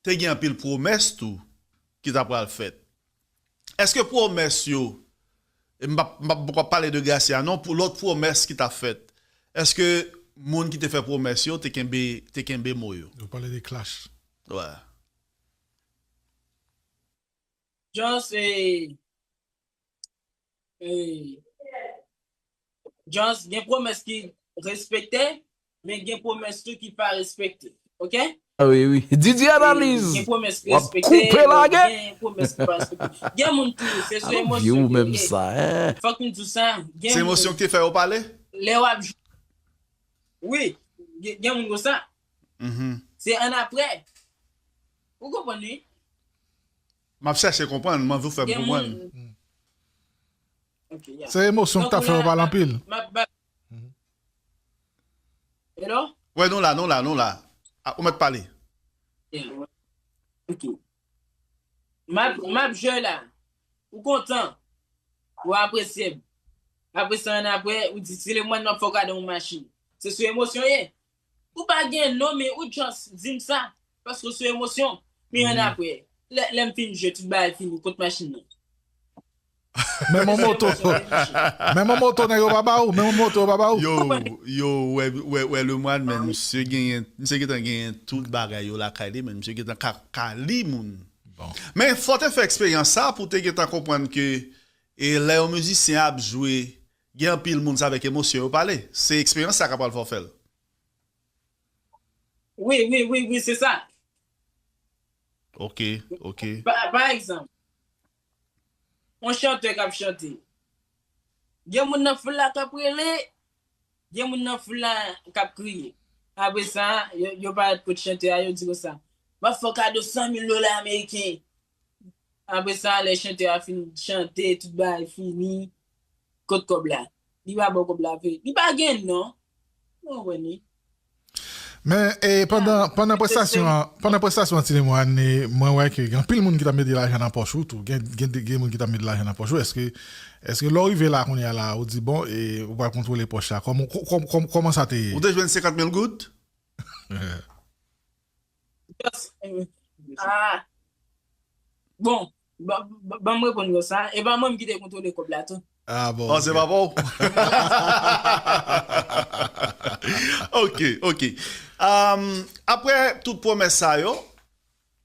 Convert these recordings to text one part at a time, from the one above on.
te gen anpil pwomès tou ki ta pral fèt. Eske pwomès yo, e m pa p pale de Gracia non, pou lòt pwomès ki ta fèt, eske moun ki te fè pwomès yo te kenbe mo yo? Ou pale de Klass? Wè. Joss, e Just gen pwomès ki respekte men gen pwomès tou ki pa respekte ok. Didi analiz wap koupe lage. Gen moun tou se sou emosyon yo ye fòk nou diw sa. Se emosyon ki te fè yo pale. Lè wap jwe wi gen moun konsa se annapre ou konprann wi. Map chache konprann m anvi w fè m konprann. Se emosyon ki tap fè yo pale anpil. Wè nou la nou la nou la ou mèt pale. Map jwe la ou kontan ou apresye m apresa annapre ou di si le mwen nan fè w gade yon machin se sou emosyon w ye Ou pa gen non men ou just dim sa paske ou sou emosyon men an aprè lè lèm fin jwe tout bagay fini kot machin nan. Men mon moto Men mon moto nèg yo pa ba ou men mon moto yo pa ba ou. Yo yo wè wè wè Lemoine men misye genyen misye gentan genyen tout bagay yo lakay li men misye gentan ka ka li moun. Men fò te fè eksperyans sa pou te gentan konprann ke e lè yon mizisyen ap jwe Gen anpil moun se avèk emosyon yo pale, se eksperyans sa ka pral fè w fè l. Wi, wi, wi, wi, se sa. Ok, ok. Pa egzanp, yon chantè k ap chante, gen moun nan foul la k ap rele, gen moun nan foul la k ap kriye. Apre sa, yo parèt kot chantè a, yo di konsa, M ap fè w kado san mil dola ameriken. Apre sa, lè chantè a fin chante, tout bagay fini, Kot kob la? Li pa baw kob la vre? Li pa gen non. Mwen konprann li. Men pandan pandan prestasyon an pandan prestasyon an ti Lemoine mwen wè ke gen anpil moun ki tap mete lajan nan pòch ou tou gen gen moun ki tap mete lajan nan pòch ou eske eske lèw rive la kounya la ou di bon e ou pral kontwole pòch la kòman sa te ye? Ou te jwenn 50 mil goud? Just ah bon ban m reponn yo sa e pa mwen m ki te kontwole kòb la tou. Ah bon. Oh se pa pa w. Ok ok ahh aprè tout pwomès sa yo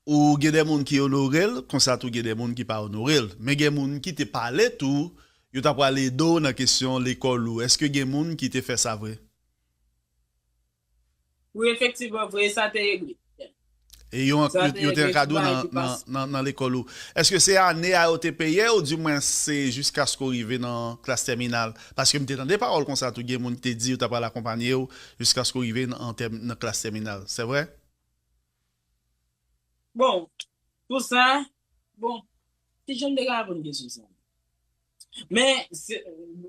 ou gen de moun ki onore l konsa tou gen de moun ki pa onore l men gen moun ki te pale tou yo ta pral ede w nan kesyon lekòl ou eske gen moun ki te fè sa vre? Wi efektivman vre sa te egri. E yo ankr yo te ankadre w nan nan lekòl ou. Eske se ane a yo te peye ou di mwens se jiskaske w rive nan klas tèminal? Paske m te tande pawòl konsa tou gen moun ki te di yo ta pral akonpanye w jiskaske w rive nan tèm nan klas tèminal. Se vre? Bon pou sa bon ki jan m te ka reponn kesyon sa? Men se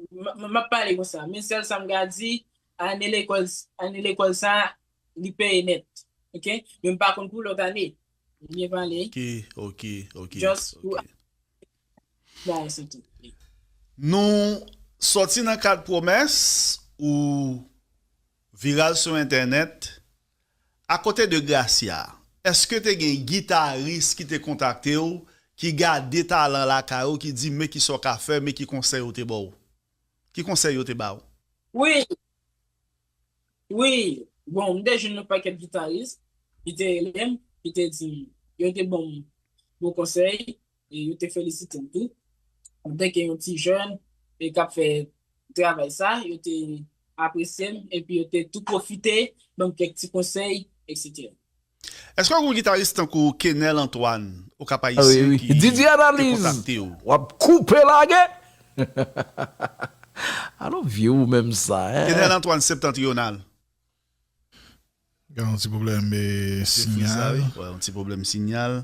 m ap pale konsa men sèl sa m ka di Ane lekòl Ane lekòl sa a li peye nèt ok men m pa konn pou lòt ane Li byen pale Ok ok ok just pou ok. la a se tout wi. Nou sòti nan kad pwomès ou viral sou entènèt Akote de Gracia èske te gen gitaris ki te kontakte w ki gade talan lakay ou ki di men kisa w ka fè men ki konsèy ou te ba w? Ki konsèy yo te ba ou? Wi! Wi! Bon, m te jwenn yon pakèt gitaris ki te rele m, ki te di m, yo te ban m bon konsèy e yo te felisite m tou antanke yon ti jèn e k ap fè travay sa. Yo te apresye m epi yo te tou pwofite ban m kèk ti konsèy, eksetera. Eske w gen yon gitaris tankou Kenel Antoine au Cap Haïtien ki te kontakte w? Kenel Antoine Septentrional. Gen yon ti pwoblèm sinyal. Wè yon ti pwoblèm sinyal.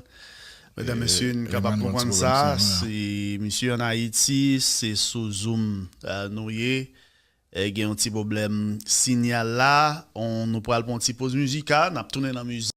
Medam mesye n ka pa konprann sa si misye an Ayiti se sou zoom nou ye. Gen yon ti pwoblèm sinyal la on nou pral pran yon ti poz mizika nap tounen nan mizik.